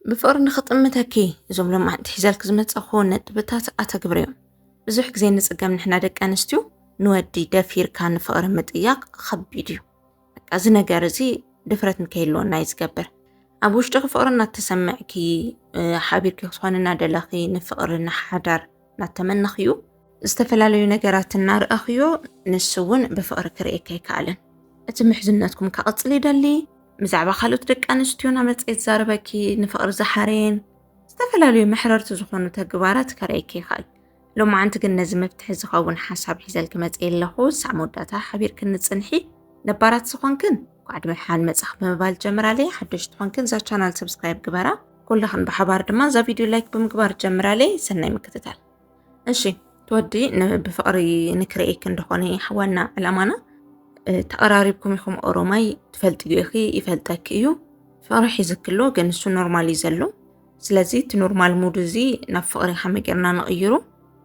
ብፍቕሪ ንኽጥምተኪ እዞም ሎማዕንቲ ሒዘልክ ዝመጸኹ ነጥብታት ኣተግብርዮም ብዙሕ ግዜ ንጽገም ንሕና ደቂ ኣንስትዩ ንወዲ ደፊርካ ንፍቕሪ ምጥያቕ ኸቢድ እዩ በቃ እዚ ነገር እዚ ድፍረት ንከይልወና እዩ ዝገብር ኣብ ውሽጢ ፍቕሪ እናተሰምዕኪ ሓቢርኪ ክስኾን እናደለኺ ንፍቕሪ ንሓዳር እናተመነኽዩ ዝተፈላለዩ ነገራት እናርኣኽዮ ንሱ እውን ብፍቕሪ ክርእየካ ኣይከኣለን እቲ ምሕዝነትኩም ከቕፅል ይደሊ ብዛዕባ ካልኦት ደቂ ኣንስትዮ ናመፀ ይዛረበኪ ንፍቕሪ ዝሓረየን ዝተፈላለዩ መሕረርቲ ዝኾኑ ተግባራት ከርእየኪ ይኽእል ሎማዓንቲ ግን ነዚ መፍትሒ ዝኸውን ሓሳብ ሒዘልኪ መፀ ኣለኹ ሳዕ መወዳእታ ሓቢርኪ ንፅንሒ ነባራት ዝኾንክን ኳዕድ ምድሓን መፅኽ ብምባል ጀምራለይ ሓደሽቲ ኾንክን እዛ ቻናል ሰብስክራይብ ግበራ ኩላኽን ብሓባር ድማ እዛ ቪድዮ ላይክ ብምግባር ጀምራለይ ሰናይ ምክትታል እሺ ትወዲ ብፍቕሪ ንክርእየኪ እንደኾነ ዋና ዕላማና ተቐራሪብኩም ኢኹም ኦሮማይ ትፈልጥዮ ኢኺ ይፈልጠኪ እዩ ፍቕሪ ሒዝኪ ኣሎ ግን እሱ ኖርማል እዩ ዘሎ ስለዚ እቲ ኖርማል ሙድ እዚ ናብ ፍቕሪ ከመይ ጌርና ንቕይሩ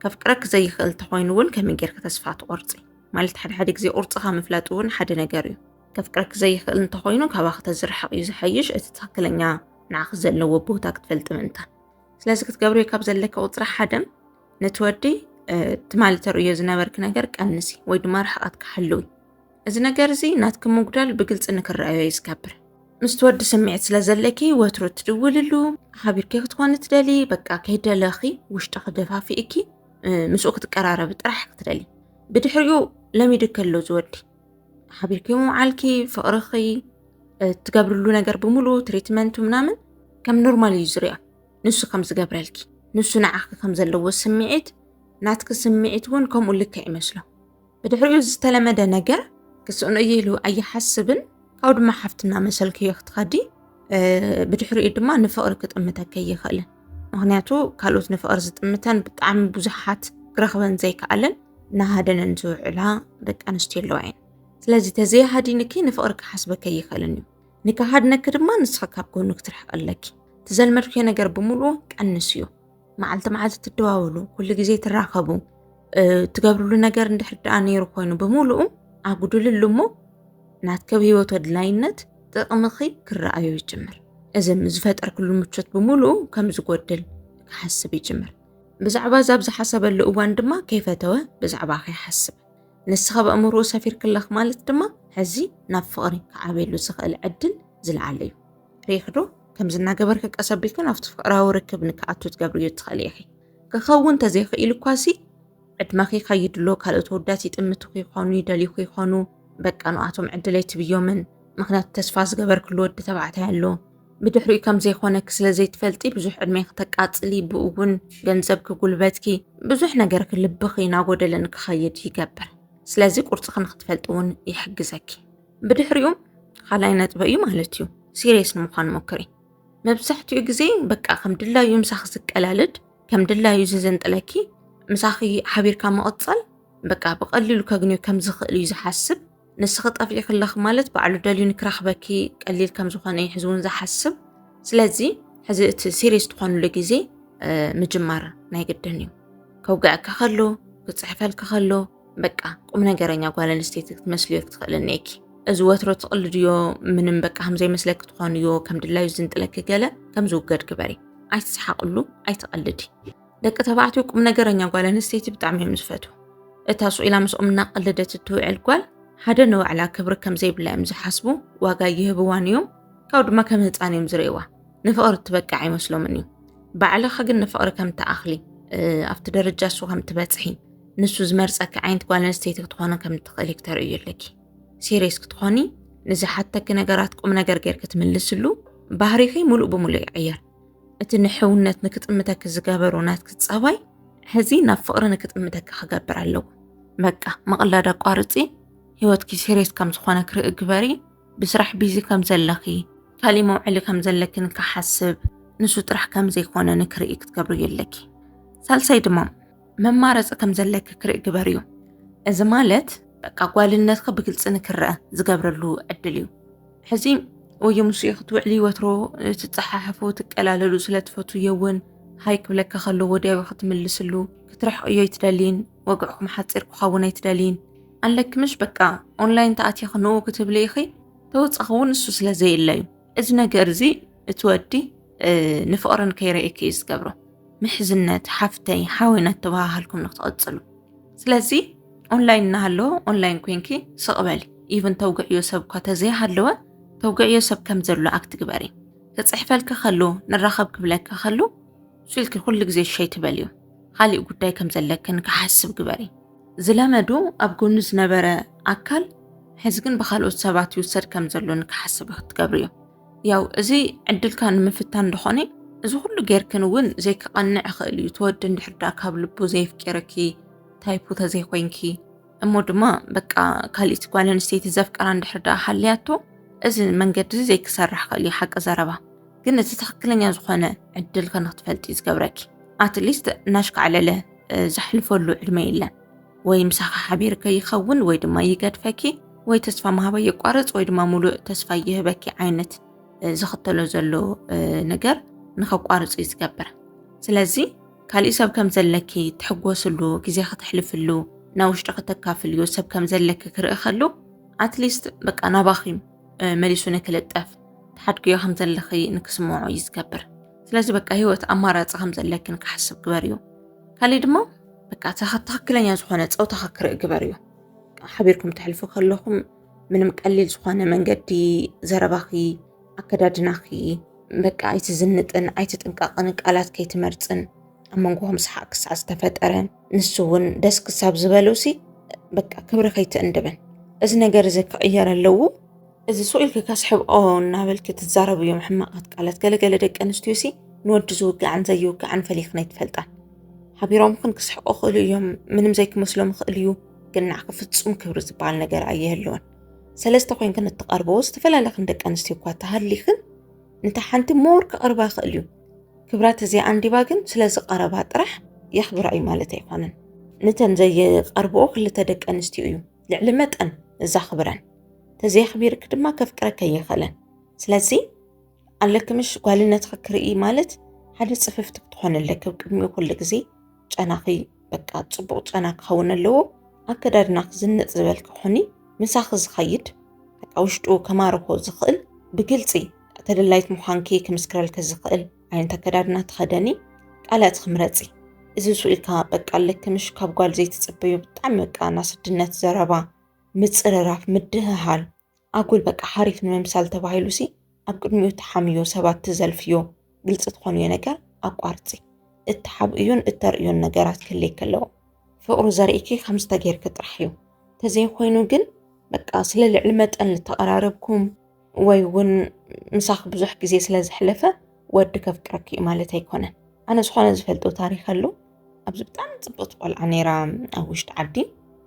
ከፍቅረኪ ዘይኽእል እንተኾይኑ እውን ከመይ ጌርኪ ተስፋ ትቆርፂ ማለት ሓደ ሓደ ግዜ ቁርፅኻ ምፍላጥ እውን ሓደ ነገር እዩ ከፍቅረኪ ዘይኽእል እንተኾይኑ ካባኺ ተዝርሕቕ እዩ ዝሐይሽ እቲ ትኽክለኛ ንዓኺ ዘለዎ ቦታ ክትፈልጢ ምእንታን ስለዚ ክትገብርዮ ካብ ዘለኪ ቁፅሪ ሓደም ነቲ ወዲ ትማሊ ተርእዮ ዝነበርኪ ነገር ቀንሲ ወይ ድማ ርሕቐት ክሓልዊ እዚ ነገር እዚ ናትኪ ምጉዳል ብግልፂ ንክረኣዮ እዩ ዝገብር ምስ ትወዲ ስምዒት ስለ ዘለኪ ወትሩ ትድውልሉ ሓቢርኪ ክትኮኒ ትደሊ በቃ ከይደለኺ ውሽጢ ክደፋፊእኪ ምስኡ ክትቀራረቢ ጥራሕ ክትደሊ ብድሕሪኡ ለሚዱ ከሎ ዝወዲ ሓቢርኪ ምውዓልኪ ፍቕርኺ እትገብርሉ ነገር ብምሉ ትሪትመንቱ ምናምን ከም ኖርማል እዩ ዝርኣ ንሱ ከም ዝገብረልኪ ንሱ ንዓኺ ከም ዘለዎ ስምዒት ናትኪ ስምዒት እውን ከምኡ ልክዕ ይመስሎ ብድሕሪኡ ዝተለመደ ነገር ክስእኖ እየ ኢሉ ኣይሓስብን ካብኡ ድማ ሓፍትና መሰልኪ እዮ ክትኸዲ ብድሕሪኡ ድማ ንፍቕሪ ክጥምተከ ይኽእልን ምክንያቱ ካልኦት ንፍቕሪ ዝጥምተን ብጣዕሚ ብዙሓት ክረኽበን ዘይከኣለን ናሃደነን ዝውዕላ ደቂ ኣንስትዮ ኣለዋ እየን ስለዚ ተዘይሃዲንኪ ንፍቕሪ ክሓስበከ ይኽእልን እዩ ንክሃድነኪ ድማ ንስኺ ካብ ጎኑ ክትርሕቂ ኣለኪ ትዘልመድኩዮ ነገር ብምሉኡ ቀንስ እዩ መዓልቲ መዓልቲ ትደዋወሉ ኩሉ ግዜ ትራኸቡ ትገብርሉ ነገር እንድሕር ደኣ ነይሩ ኮይኑ ብምሉኡ ኣጉድልሉ እሞ ናትከብ ህይወት ኣድላይነት ጥቕምኺ ክረኣዮ ይጅምር። እዚ ንዝፈጠርክሉ ምቾት ብምሉኡ ከም ዝጎድል ክሓስብ ይጅምር። ብዛዕባ እዛ ኣብዚ ሓሰበሉ እዋን ድማ ከይፈተወ ብዛዕባኺ ይሓስብ። ንስኺ ኣብ ኣእምሮኡ ሰፊርክለኽ ማለት ድማ ሕዚ ናብ ፍቕሪ ክዓብየሉ ዝኽእል ዕድል ዝለዓለ እዩ። ርኢኽዶ? ከምዚ እናገበርኪ ቀስ ኣቢልክን ኣብቲ ፍቕራዊ ርክብ ንክኣቱ ትገብርዮ እትኽእሊ ኢኺ። ክኸውን ተዘይኽኢሉ እኳሲ፣ ዕድመኺ ከይድሎ ካልኦት ወዳት ይጥምቱ ከይኾኑ ይደልዩ ከይኾኑ በቃ ንኣቶም ዕድል ኣይትብዮምን ምክንያቱ ተስፋ ዝገበርክሉ ወዲ ተባዕታይ ኣሎ ብድሕሪኡ ከም ዘይኮነኪ ስለ ዘይትፈልጢ ብዙሕ ዕድሜ ክተቃጽሊ ብኡ እውን ገንዘብኪ ጉልበትኪ ብዙሕ ነገርኪ ልብኺ ናጎደለን ክኸይድ ይገብር ስለዚ ቁርፅኺ ንክትፈልጢ እውን ይሕግዘኪ ብድሕሪኡ ካልኣይ ነጥበ እዩ ማለት እዩ ሲሪየስ ንምዃን ሞክሪ መብዛሕትኡ ግዜ በቃ ከም ድላዩ ምሳኺ ዝቀላልድ ከም ድላዩ ዘዘንጥለኪ ምሳኺ ሓቢርካ መቐጸል በቃ ብቐሊሉ ከግንዮ ከም ዝኽእል እዩ ዝሓስብ ንስኺ ጠፊኢ ክለኽ ማለት ባዕሉ ደልዩ ንክረኽበኪ ቀሊል ከም ዝኾነ እዩ ሕዚ እውን ዝሓስብ ስለዚ ሕዚ እቲ ሲሪየስ ትኾንሉ ግዜ ምጅማር ናይ ግድን እዩ ከውግዐካ ከሎ ክፅሕፈልካ ከሎ በቃ ቁም ነገረኛ ጓል ኣንስተይቲ ክትመስልዮ ክትኽእልኒ እኪ እዚ ወትሮ ትቕልድዮ ምንም በቃ ከምዘይመስለኪ ትኾንዮ ከም ድላዩ ዝንጥለኪ ገለ ከም ዝውገድ ግበሪ ኣይትስሓቕሉ ኣይትቐልዲ ደቂ ተባዕትዮ ቁም ነገረኛ ጓል ኣንስተይቲ ብጣዕሚ እዮም ዝፈቱ እታ ስኢላ ምስኦም እናቐለደት እትውዕል ጓል ሓደ ንባዕላ ክብሪ ከም ዘይብላ እዮም ዝሓስቡ ዋጋ ይህብዋን እዮም ካብኡ ድማ ከም ህፃን እዮም ዝርእዋ ንፍቕሪ እትበቅዕ ኣይመስሎምን እዩ ባዕልኻ ግን ንፍቕሪ ከም ትኣኽሊ ኣብቲ ደረጃ እሱ ከም ትበፅሒ ንሱ ዝመርጸኪ ዓይነት ጓል ኣንስተይቲ ክትኾኑ ከም እትኽእሊ ክተርእዩ ኣለኪ ሲሪየስ ክትኾኒ ንዝሓተኪ ነገራት ቁም ነገር ጌርኪ ትምልስሉ ባህሪኺ ሙሉእ ብሙሉእ ይቕየር እቲ ንሕውነት ንክጥምተኪ ዝገበሩ ናትኪ ጸባይ ሕዚ ናብ ፍቕሪ ንክጥምተኪ ክገብር ኣለዎ በቃ ምቕላድ ኣቋርፂ ህይወትኪ ሲሪየስ ከም ዝኾነ ክርኢ ግበሪ ብስራሕ ቢዚ ከም ዘለኺ ካልእ መውዕሊ ከም ዘለኪ ንክሓስብ ንሱ ጥራሕ ከም ዘይኮነ ንክርኢ ክትገብርዮ ኣለኪ ሳልሳይ ድማ መማረፂ ከም ዘለኪ ክርኢ ግበሪ እዩ። እዚ ማለት በቃ ጓልነትኪ ብግልፂ ንክረአ ዝገብረሉ ዕድል እዩ ሕዚ ወይ ምስ ክትውዕሊ ወትሮ ትፀሓሕፉ ትቀላለሉ ስለ ትፈትውዮ እውን ሃይ ክብለካ ከሎ ወዲያዊ ክትምልስሉ ክትርሕቅዮ ኣይትደልይን ወግዕኩም ሓፂር ክኸውን ኣይትደልይን ኣለኪ ምሽ በቃ ኦንላይን ተኣትኺ ንኡ ክትብሊ ኢኺ ተወፃኺ እውን እሱ ስለ ዘየለ እዩ እዚ ነገር እዚ እቲ ወዲ ንፍቕረን ከይረኤኪ እዩ ዝገብሮ ምሕዝነት ሓፍተይ ሓወ እናተባሃሃልኩም ንክትቕፅሉ ስለዚ ኦንላይን እናሃለወ ኦንላይን ኮንኪ ስቕበሊ ኢቨን ተውግዕዮ ሰብ እኳ ተዘይሃለወ ተውግዕዮ ሰብ ከም ዘሎ ኣክት ግበሪ ክፅሕፈልኪ ከሉ ንራኸብ ክብለኪ ከሉ ስልኪ ኩሉ ግዜ ሸይ ትበልዩ ካሊእ ጉዳይ ከም ዘለክን ክሓስብ ግበሪ ዝለመዱ ኣብ ጎኑ ዝነበረ ኣካል ሕዚ ግን ብካልኦት ሰባት ይውሰድ ከም ዘሎ ንክሓስብ ክትገብር እዩ ያው እዚ ዕድልካ ንምፍታን ድኾነ እዚ ኩሉ ጌርክን እውን ዘይክቐንዕ ይኽእል እዩ ተወዲ እንድሕር ዳ ካብ ልቡ ዘየፍቂርኪ ታይፑ ተዘይኮይንኪ እሞ ድማ በቃ ካልኢት ጓል ኣንስተይቲ ዘፍቀራ እንድሕር ዳ ሃልያቶ እዚ መንገዲ ዘይክሰርሕ ክእል እዩ ሓቂ ዘረባ ግን እቲ ትክክለኛ ዝኾነ ዕድል ከንክትፈልጢ ዝገብረኪ ኣትሊስት እናሽካዕለለ ዘሕልፈሉ ዕድመ የለን ወይ ምሳኻ ሓቢር ከይኸውን ወይ ድማ ይገድፈኪ ወይ ተስፋ ምሃባ የቋርፅ ወይ ድማ ሙሉእ ተስፋ ይህበኪ ዓይነት ዝኽተሎ ዘሎ ነገር ንኸቋርፅ እዩ ዝገብር ስለዚ ካልእ ሰብ ከም ዘለኪ ትሕጎስሉ ግዜ ከተሕልፍሉ ናብ ውሽጢ ከተካፍልዮ ሰብ ከም ዘለኪ ክርኢ ከሉ ኣትሊስት በቃ ናባኺም መሊሱ ንክልጠፍ ተሓድግዮ ከም ዘለኺ ንክስምዖ እዩ ዝገብር ስለዚ በቃ ሂወት ኣማራፂ ከም ዘለኪ ንክሓስብ ግበር እዩ ካሊእ ድማ በቃ ትክክለኛ ዝኾነ ፀውታኻ ክርኢ ግበር እዩ ሓቢርኩም ተሕልፉ ከለኹም ምንም ቀሊል ዝኾነ መንገዲ ዘረባኺ ኣከዳድናኺ በቃ ኣይትዝንጥን ኣይትጥንቀቕን ቃላት ከይትመርፅን ኣብ መንጎኹም ሰሓቅ ክሳዕ ዝተፈጠረ ንሱ እውን ደስ ክሳብ ዝበሎሲ በቃ ክብሪ ከይትእንድብን እዚ ነገር እዚ ክቕየር ኣለዎ እዚ ሱቕ ኢልኪ ከስሕብኦ እናበልኪ ትዛረብ እዮም ሕማቓት ቃላት ገለገለ ደቂ ኣንስትዮ ሲ ንወዲ ዝውጋዕን ዘይውጋዕን ፈሊኽን ኣይትፈልጣን ሓቢሮምክን ክስሕቁ ክእሉ እዮም ምንም ዘይክመስሎም ይኽእል እዩ ግን ናዕኪ ፍጹም ክብሪ ዝበሃል ነገር ኣየህልወን ሰለስተ ኮንክን እትቐርበዎ ዝተፈላለኽን ደቂ ኣንስትዮ እኳ ተሃሊኽን ንታ ሓንቲ ሞር ክቐርባ ይኽእል እዩ ክብረት እዚኣ ኣንዲባ ግን ስለ ዝቐረባ ጥራሕ የኽብራ እዩ ማለት ኣይኮነን። ንተን ዘይቐርብኦ ክልተ ደቂ ኣንስትዮ እዩ ልዕሊ መጠን እዛኽብረን ተዘየኽቢርክ ድማ ከፍቅረከ ይኽእለን ስለዚ ኣለክምሽ ጓልነትኺ ክርኢ ማለት ሓደ ፅፍፍቲ ክትኾን ኣለክ ቅድሚኡ ኩሉ ግዜ ጨናኺ በቃ ጽቡቕ ጨና ክኸውን ኣለዎ። ኣከዳድናኺ ዝንጥ ዝበል ክኹኒ፣ ምሳኺ ዝኸይድ በቃ ውሽጡ ከማርኾ ዝኽእል ብግልጺ ተደላይት ምዃንኪ ክምስክረልኪ ዝኽእል ዓይነት ኣከዳድና ተኸደኒ፣ ቃላትኺ ምረጺ። እዚ ስኢልካ በቃ ኣለኪ ምሽ ካብ ጓል ዘይትጽበዩ ብጣዕሚ በቃ ናስድነት ዘረባ ምጽርራፍ ምድህሃል ኣጉል በቃ ሓሪፍ ንምምሳል ተባሂሉ ሲ ኣብ ቅድሚኡ ተሓምዮ ሰባት ትዘልፍዮ ግልፂ ትኾንዮ ነገር ኣቋርፂ እተሓብእዩን እተርእዩን ነገራት ክልይ ከለዎ ፍቕሩ ዘርእኪ ከም ዝተገይርኪ ጥራሕ እዩ ተዘይኮይኑ ግን በቃ ስለ ልዕሊ መጠን ልተቐራረብኩም ወይ እውን ምሳኺ ብዙሕ ግዜ ስለ ዝሕለፈ ወዲ ከፍቅረኪ እዩ ማለት ኣይኮነን ኣነ ዝኾነ ዝፈልጦ ታሪክ ኣሎ ኣብዚ ብጣዕሚ ፅብቕቲ ቆልዓ ነይራ ኣብ ውሽጢ ዓዲ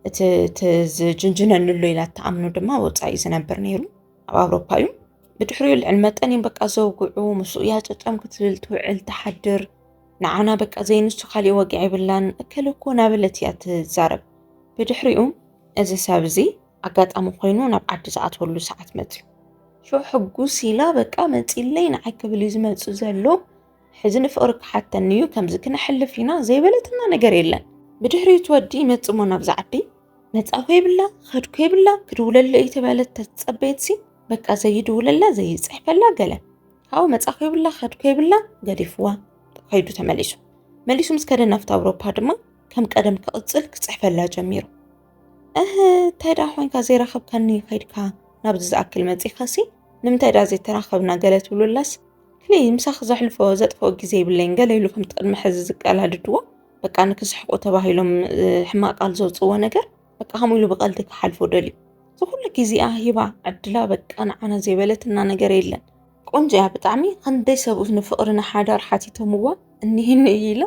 እቲ ዝጅንጅነንሎ ኢላ እትኣምኑ ድማ ወፃኢ ዝነብር ነይሩ ኣብ ኣውሮፓ እዩ ብድሕሪኡ ልዕሊ መጠን እዮም በቃ ዘውግዑ ምስኡ እያ ጨጨም ክትብል ትውዕል ትሓድር ንዓና በቃ ዘይንሱ ካሊእ ወግዒ የብላን እከለ እኮ ናበለት እያ ትዛረብ ብድሕሪኡ እዚ ሰብ እዚ ኣጋጣሚ ኮይኑ ናብ ዓዲ ዝኣትወሉ ሰዓት መፅዩ ሽዑ ሕጉስ ኢላ በቃ መፂለይ ንዓይ ክብል እዩ ዝመፅእ ዘሎ ሕዚ ንፍቕሪ ክሓተኒ እዩ ከምዚ ክነሕልፍ ኢና ዘይበለትና ነገር የለን ብድሕሪ እቲ ወዲ ይመጽእ እሞ ናብዛ ዓዲ መጻኹ የብላ ኸድኩ የብላ ክድውለለይ እዩ ተባለት ተጸበየትሲ በቃ ዘይድውለላ ዘይጽሕፈላ ገለ ካብኡ መጻኹ የብላ ኸድኩ የብላ ገዲፍዋ ከይዱ ተመሊሱ መሊሱ ምስ ከደ ናፍቲ ኣውሮፓ ድማ ከም ቀደም ክቕጽል ክጽሕፈላ ጀሚሩ እህ እንታይ ደኣ ኮንካ ዘይረኸብካኒ ከይድካ ናብዚ ዝኣክል መጺኻሲ ንምንታይ ደኣ ዘይተራኸብና ገለ ትብሉላስ ፍሊ ምሳኺ ዘሕልፎ ዘጥፍኦ ግዜ ይብለይን ገለ ኢሉ ከምቲ ቅድሚ ሕዚ ዝቀላድድዎ በቃ ንክስሕቁ ተባሂሎም ሕማቅ ቃል ዘውፅዎ ነገር በቃ ከምኡ ኢሉ ብቀልዲ ክሓልፎ ደልዩ እዚ ኩሉ ግዜኣ ሂባ ዕድላ በቃ ንዓና ዘይበለትና ነገር የለን ቆንጆ እያ ብጣዕሚ ክንደይ ሰብኡት ንፍቅሪ ንሓዳር ሓቲቶምዋ እኒህኒ እዩ ኢላ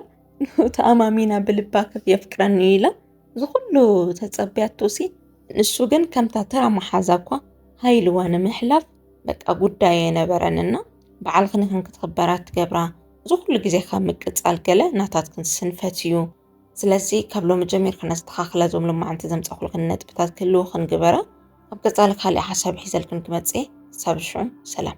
ተኣማሚና ብልባ ከፍ የፍቅረኒ እዩ ኢላ እዚ ኩሉ ተፀቢያቶ ሲ ንሱ ግን ከምታ ተራ መሓዛ እኳ ሃይልዋ ንምሕላፍ በቃ ጉዳይ ኣይነበረን እና በዓልክን ይኹን ክትኽበር ኣትገብራ እዚ ኩሉ ግዜ ካብ ምቅጻል ገለ ናታትክን ስንፈት እዩ ስለዚ ካብ ሎሚ ጀሚርካ ነስተኻኽለ ዞም ሎማዓንቲ ዘምጻኹልክን ነጥብታት ክህልውኽን ግበረ ኣብ ቀጻሊ ካልእ ሓሳብ ሒዘልክን ክመጽእ እየ ክሳብ ሽዑ ሰላም